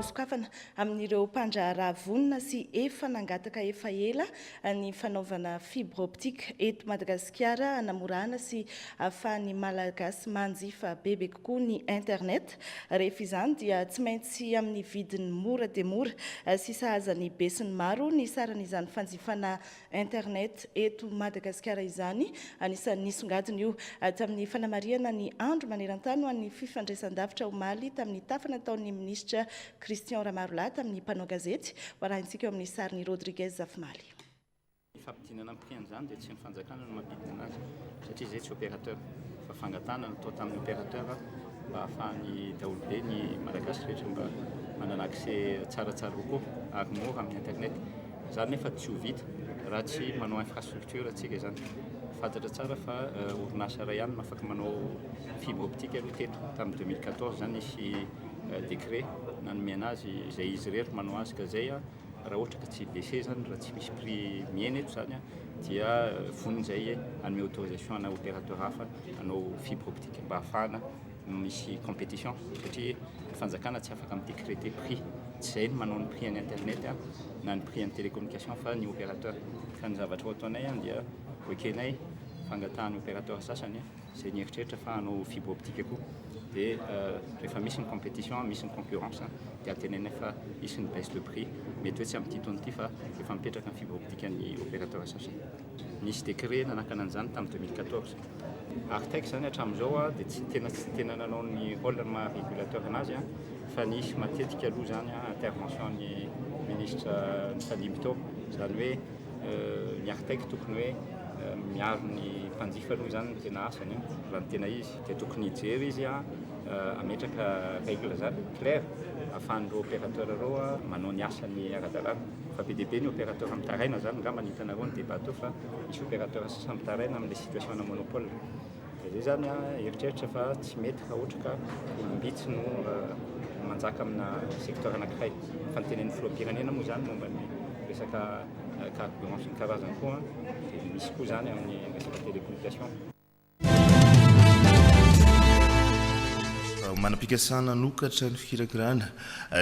hosokafana amin'ireo mpandraharaha vonona sy efa nangataka efa ela ny fanaovana fibre optique eto Madagasikara hanamorana sy ahafahan'ny Malagasy manjifa bebe kokoa ny internet. Rehefa izany dia tsy maintsy amin'ny vidiny mora dia mora sy sahaza ny besinimaro ny saran'izany fanjifana Internet eto Madagasikara izany. Anisan'ny nisongadina io tamin'ny fanamarihana ny andro maneran-tany ho an'ny fifandraisan-davitra omaly tamin'ny tafa nataon'ny minisitra Christian Ramarolahy tamin'ny mpanao gazety. Ho arahintsika eo amin'ny sarin'i Rodriguez Zafimaly. Ny fampidinana ny prix an'izany dia tsy ny fanjakana no mampidina azy satria izay tsy opérateur fa fangatahana no atao tamin'ny opérateur mba hahafahan'ny daholobe ny Malagasy rehetra mba manana accès tsaratsara kokoa ary mora amin'ny internet. Izany nefa tsy ho vita raha tsy manao infrastructure antsika izany. Fantatra tsara fa orinasa iray ihany no afaka manao fibre optique aloha teto. Tamin'ny 2014 izany nisy décret nanomena azy izay izy irery no manao azy ka izay raha ohatra ka tsy baisser izany raha tsy misy prix mihena eto izany dia vonona izay hanome autorisation ana opérateur hafa hanao fibre optique mba hahafahana Misy competition satria fanjakana tsy afaka mi-decreter prix, tsy izay no manao ny prix an'ny internet na ny prix an'ny télécommunication fa ny opérateur. Ka ny zavatra hataonay dia ho ekenay fangatahan'ny opérateur sasany izay nieritreritra fa hanao fibre optique koa. Dia rehefa misy ny competition, misy ny concurrence dia antenainay fa hisy ny baisse de prix, mety hoe tsy amin'ity taona ity fa efa mipetraka ny fibre optique an'ny opérateur sasany. Nisy décret nanakana an'izany tamin'ny deux mille quatorze. Artec izany hatramin'izao dia tsy tena tsy tena nanao ny rôle ny maha régulateur anazy fa nisy matetika aloha izany intervention ny ministra nifandimby tao. Izany hoe ny Artec tokony hoe miaro ny mpanjifa aloha izany no tena asany raha ny tena izy. Dia tokony hijery izy hametraka règle izany claire ahafahan'ireo opérateur ireo manao ny asany ara-dalàna. Fa be dia be ny opérateur mitaraina zany ngamba ny hitanareo ny débat teo fa misy opérateur sasany mitaraina amin'ilay situation ana monopole dia zay zany a eritreritra fa tsy mety raha ohatra ka olom-bitsy no manjaka amina secteur anankiray fa ny tenen'ny filoham-pirenena moa zany momba ny resaka carburant sy ny karazany koa dia misy koa zany amin'ny resaka télécommunication Manam-pikasana hanokatra ny fikirakirana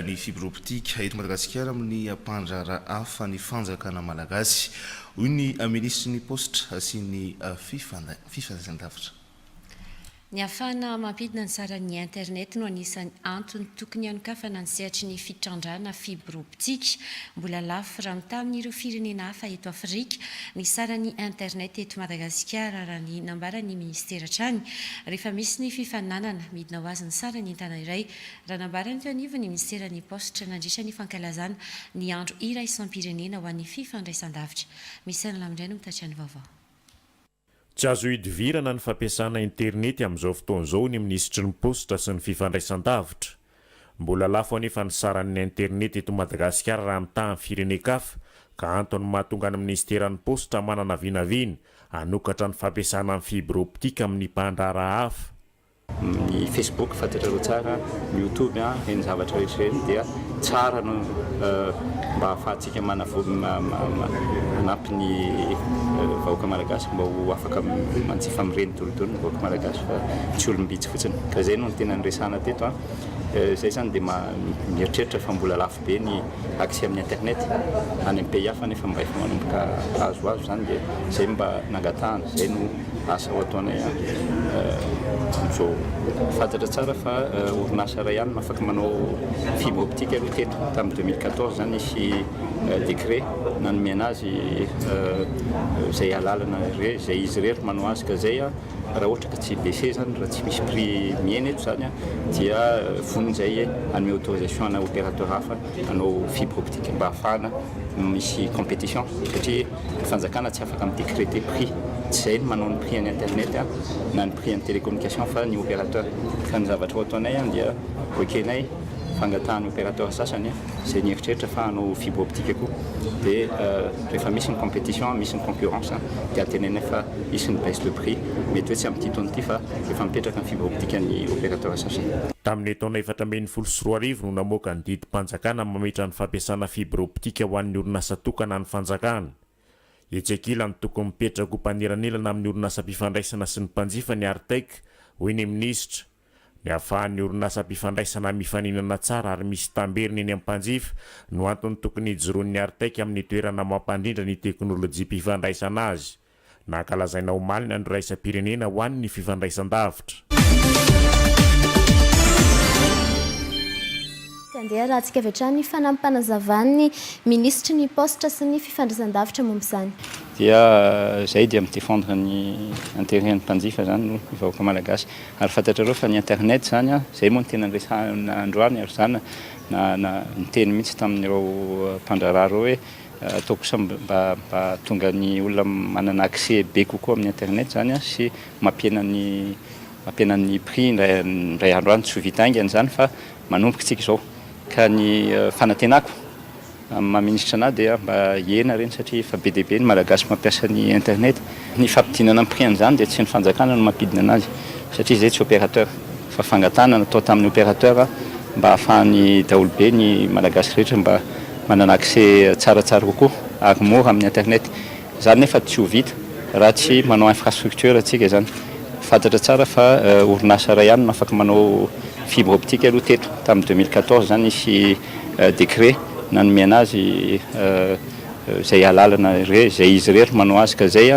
ny fibre optique eto Madagasikara amin'ny mpandraharaha hafa ny fanjakana malagasy, hoy ny minisitry ny Paositra sy ny fifandraisandavitra. Ny hahafahana mampidina ny saran'ny internet no anisan'ny antony tokony hanokafana ny sehatry ny fitrandrahana fibre Tsika. Mbola lafo raha mitaha amin'ireo firenena hafa eto Afrika ny saran'ny internet eto Madagasikara, raha ny nambaran'ny minisitera hatrany, rehefa misy ny fifaninanana midina ho azy ny saran'entana iray, raha nambarany teo anivon'ny minisiteran'ny Paositra nandritra ny fankalazana ny andro iraisam-pirenena ho an'ny fifandraisandavitra. Misaina lamindray no mitatitra ny vaovao. Tsy azo idivirana ny fampiasana internety amin'izao fotoana izao ny minisitry ny Paositra sy ny fifandraisandavitra. Mbola lafo anefa ny saran'ny internety eto Madagasikara raha mitaha ny firenen-kafa ka antony mahatonga ny minisiteran'ny Paositra manana vinavina hanokatra ny fampiasana ny fibre optique amin'ny mpandraharaha hafa. Ny Facebook fantatrareo tsara, ny YouTube an, ireny zavatra rehetra ireny dia tsara no mba ahafahantsika manampy ny vahoaka malagasy mba ho afaka manjifa amin'ireny doridory ny vahoaka malagasy fa tsy olom-bitsy fotsiny. Ka izay no tena niresahana teto an. Izay izany dia mieritreritra fa mbola lafo be ny accès amin'ny internet any amin'ny pays hafa nefa mba efa manomboka azoazo izany dia izay mba nangatahana, izay no. asa ho ataonay an! Mijoo, fantatra tsara fa orinasa iray ihany no afaka manao fibre optique aloha teto, tamin'ny deux mille quatorze izany nisy décret nanomena azy izay alalana irery, izay izy irery no manao azy ka izay an! raha ohatra ka tsy baisser izany, raha tsy misy prix mihena eto izany an! dia vonona izahay hanome autorisation ana opérateur hafa hanao fibre optique mba hahafahana misy competition satria ny fanjakana tsy afaka mi-decreter prix, tsy izay ny manao ny prix an'ny internet na ny prix an'ny télécommunication fa ny opérateur, fa ny zavatra ho ataonay dia ho ekenay fangatahan'ny opérateur sasany izay nieritreritra fa hanao fibre optique koa dia rehefa misy ny competition, misy ny concurrence dia antenainay fa hisy ny baisse de prix, mety hoe tsy amin'ity taona ity fa efa mipetraka ny fibre optique an'ny opérateur sasany. Tamin'ny taona efatra ambin'ny folo sy roa arivo no namoaka ny didim-panjakana. Fanjakana mametra ny fampiasana fibre optique ho an'ny orinasa tokana an'ny Fanjakana. Etsy ankilany tokony mipetraka ho mpanelanelana amin'ny orinasam-pifandraisana sy ny mpanjifa ny Artec, hoy ny minisitra. Ny ahafahan'ny orinasam-pifandraisana mifaninana tsara ary misy tamberina eny amin'ny mpanjifa no antony tokony hijoroan'ny Artec amin'ny toerana mampandrindra ny teknolojiam-pifandraisana azy. Nankalazaina omaly ny Andro Iraisam-pirenena ho an'ny Fifandraisan-davitra. Tsy handeha raha tsy avy hatrany ny fanampanazavan'ny Minisitry ny Paositra sy ny Fifandraisan-davitra momba izany. Dia izay dia mi-defendre ny intérêt an'ny mpanjifa izany no ny vahoaka Malagasy. Ary fantatrareo fa ny internet izany an, izay moa no tena niresahana androany ary izaho na na niteny mihitsy tamin'ireo mpandraharaha ireo hoe, Atao kosa mba hahatonga ny olona manana accès be kokoa amin'ny internet izany sy mampihena ny mampihena ny prix indray indray andro any. Tsy ho vita haingana izany fa manomboka isika izao. Ka ny fanantenako amin'ny maha minisitra anà dia mba hihena ireny satria efa be dia be ny Malagasy mampiasa ny internet. Ny fampidinana ny prix an'izany dia tsy ny fanjakana no mampidina anazy satria izay tsy opérateur fa fangatahana natao tamin'ny opérateur mba hahafahan'ny daholobe ny Malagasy rehetra mba manana accès tsaratsara kokoa ary mora amin'ny internet. Izany nefa tsy ho vita raha tsy manao infrastructure antsika izany. Fantatra tsara fa orinasa iray ihany no afaka manao fibre optique aloha teto tamin'ny deux mille quatorze izany nisy décret nanome anazy izay alalana izay izy irery manao azy ka zay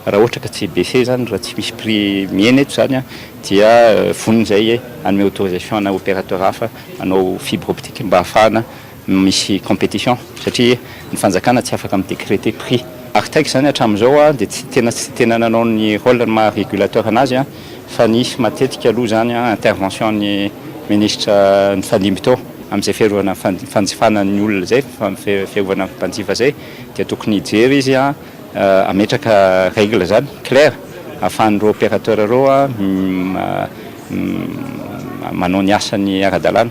raha ohatra ka tsy baisser zany raha tsy misy prix mihena eto zany dia vonona izay hanome autorisation ana opérateur hafa hanao fibre optique mba hahafahana misy compétition satria ny fanjakana tsy afaka mi décréter prix artex zany hatramin'izao dia tsy tena tsy tena nanao ny rôle ny maha régulateur anazy fa nisy matetika aloha izany intervention an'ny ministra nifandimby teo amin'izay fiarovana fanjifana ny olona izay, fiarovana ny mpanjifa izay dia tokony hijery izy hametraka règle izany clair ahafahan'ireo opérateur ireo manao ny asany ara-dalàna.